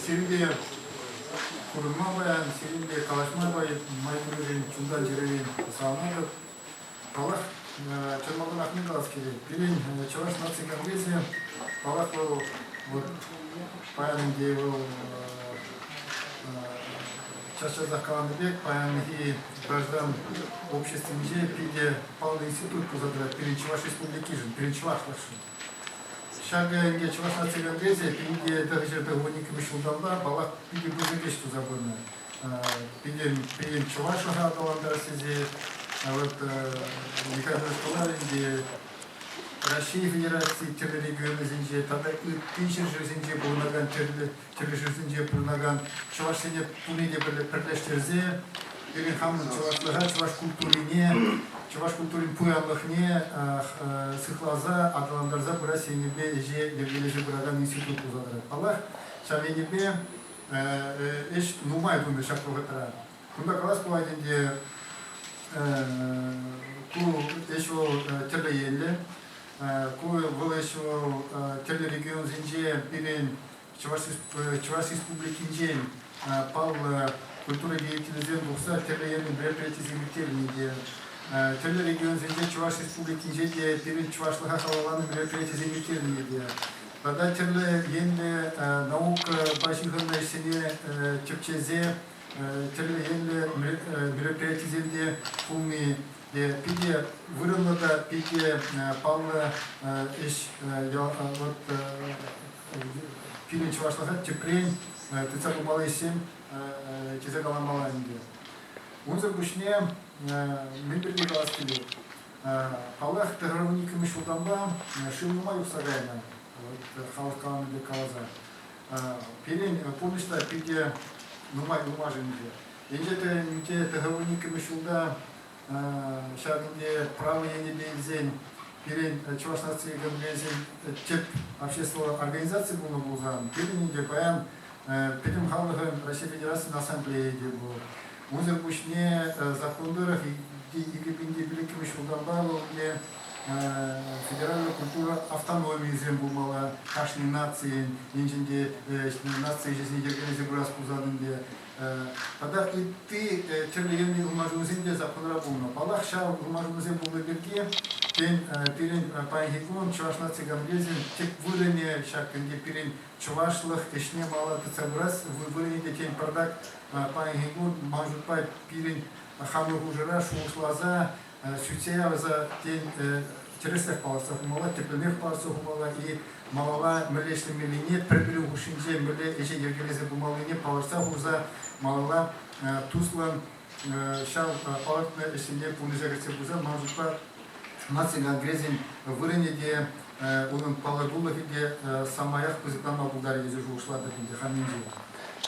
Сирӗнпе курӑнма паян, сирӗнпе калаҫма май пурришӗн чунтан чӗререн савӑнатӑп. Паллах, чӑрмавлӑрахне калас килет. Пирӗн Чӑваш наци конгресӗ, паллах, вӑл вот паян ӗнтӗ вӑл час-часах каланӑ пек, паянхи граждан обществинче питӗ паллӑ институт пулса тӑрать пирӗн Чӑваш Республикишӗн, пирӗн чӑвашлӑхшӑн. Ҫакӑ ӗнтӗ Чӑваш наци конгресӗ пинпе пӗр ҫӗрпе он иккӗмӗш ҫулталла паллах питӗ пысӑк ӗҫ туса пынӑ. Пирӗн, пирӗн чӑвашлӑха аталантарас тесе вот Николай Москва ӗнтӗ Раҫҫей Федераци тӗрлӗ регионӗсенче тата ытти ҫӗршывсенче пурӑнакан тӗрлӗ кӗрешӳсенче пурӑнакан чӑвашсене туни те пӗрлештерсе пирӗн хамӑн чӑвашлӑха, чӑваш культурине, чӑваш культурин пуянлӑхне сыхласа, аталантарса пырас енӗпе ӗҫе йӗркелесе пыракан институт пулса тӑрать. Паллах, ҫав енӗпе ӗҫ нумай тунӑ ҫак вӑхӑтра. Кунта калас пулать ӗнтӗ, ку ӗҫ вӑл тӗрлӗ енлӗ. Ку вӑл ӗҫ вӑл тӗрлӗ регионсенче пирӗн Чӑваш Республикинчен паллӑ культура деятелӗсем тухса тӗрлӗ енлӗ мероприятисем ирттернӗ те. Тӗрлӗ регионсенче Чӑваш Республикинче те пирӗн чӑвашлӑха халалланӑ мероприятисем ирттернӗ те. Тата тӗрлӗ енлӗ наукӑпа ҫыхӑннӑ ӗҫсене тӗпчесе тӗрлӗ енлӗ мероприятисене пулни питӗ вырӑнлӑ та питӗ паллӑ ӗҫ. Вот пирӗн чӑвашлӑха тӗпрен тытса пымалли ӗҫсем тесе каламалла ӗнтӗ. Унсӑр пуҫне мӗн пирки калас килет? Паллах, пехровникӑн ҫултанпа шыв нумай юхса кайнӑ, вот халӑх каланӑ пек каласа. Пирӗн пурнӑҫ та питӗ нумай-нумашӑнчӗ. Инҫете тӑхӑрвун иккӗмӗш ҫулта ҫав енте право енӗпе илсен пирӗн Чӑваш наци экономикин тӗп общество организаци пулнӑ пулсан, пирӗн ӗнтӗ паян пӗтӗм халӑхӑн Раҫҫей Федерацийӗн ассамблейи те пур. Унсӑр пуҫне закон тӑрӑх икӗ пин иккӗмӗш ҫултанпа вӑл Федераллӑ культура автономийӗсем пулмалла кашни нацийӗн, енчен те наци ӗҫӗсене йӗркелесе пырас пулсан ӗнтӗ. Тата ытти тӗрлӗ енлӗ улмашӑнусем те законра пулнӑ. Паллах, ҫав улмашӑнусем пулнӑ пирки, тен, пирӗн паянхи кун Чӑваш наци конгресӗн тӗп вырӑнӗ ҫак ӗнтӗ пирӗн чӑвашлӑх ӗҫне мала тытса пырас вырӑнӗ те, тен, пӗртак паянхи кун ман шутпа пирӗн хамӑр хушӑра шухӑшласа сӳтсе явса, тен, тӗрӗсрех палӑртса хумалла, тӗплӗнех палӑртса хумалла и малалла мӗнле ӗҫлемеллине, пӗр-пӗрин хушшинче мӗнле ӗҫе йӗркелесе пымаллине палӑртса хурса малалла туслӑн ҫав палӑртнӑ ӗҫсене пурнӑҫа кӗртсе пырса, ман шутпа, наци конгресӗн вырӑнӗ те, унӑн палӑртулӑхӗ те самаях пысӑкланма пултарӗ тесе шухӑшлатӑп ӗнтӗ хамӗнче.